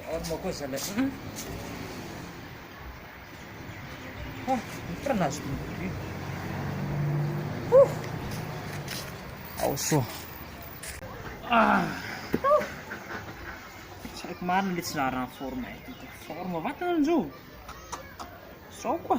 Forme koa zala an. Ah, ny farany azoko ny prix. Ao so. Ah. Tsy haiko marina le tsy zaran'ny forme ity. Forme vatana ny zo. Sao koa.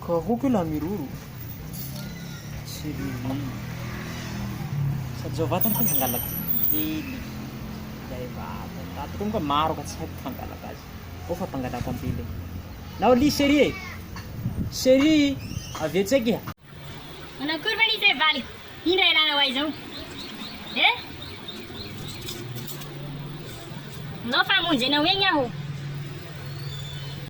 Karohiko ilay miroro sy ririhy. Sady izao vatany koa hangalaka kely ilay vatany. Raha tokony koa maro ka tsy haiko ny fangalaka azy. Ô fa mpangalaka ambily. Nao li chérie e. Chérie, avia tsaiky iha. Manao akory ve lise valiko? Indra ialana ho ahy izao. Eh? Nao fa hamonjy anao egny aho.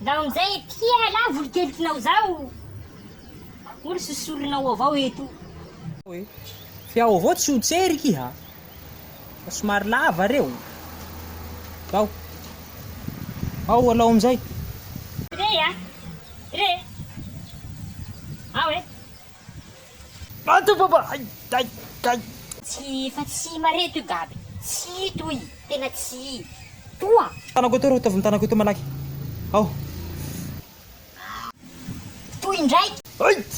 Ndao amin'izay ety ialahy volonkeliknao izao moa ry sosoronao avao eto. Fe ao avao tsy ho tsery ki ha fa somary lava reo ndao ao alao amin'izay. Re a! Re! Ao e! Tsy efa tsy mare toy gaby tsy toy tena tsy toa. Tanako eto ry ataovy ny tanako eto malaky aho. Toy indraiky. Aït!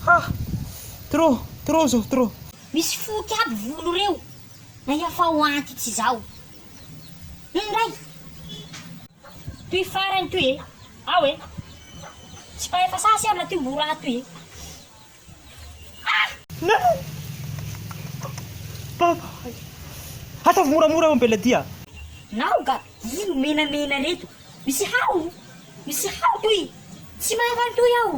Ha! Trop, trop zao, trop. Misy foty aby volo reo na iafa ho anty tsy zao. Indray! Toy farany toy e. Ao e! Tsy mpahay fasaha sy amina ty mbo raty e! Ah! Neny! Baba ay! Ataovy moramora eo Bella dia! Naoga! Ino menamena reto? Misy hao! Misy hao toy! Tsy mahay manontoi aho!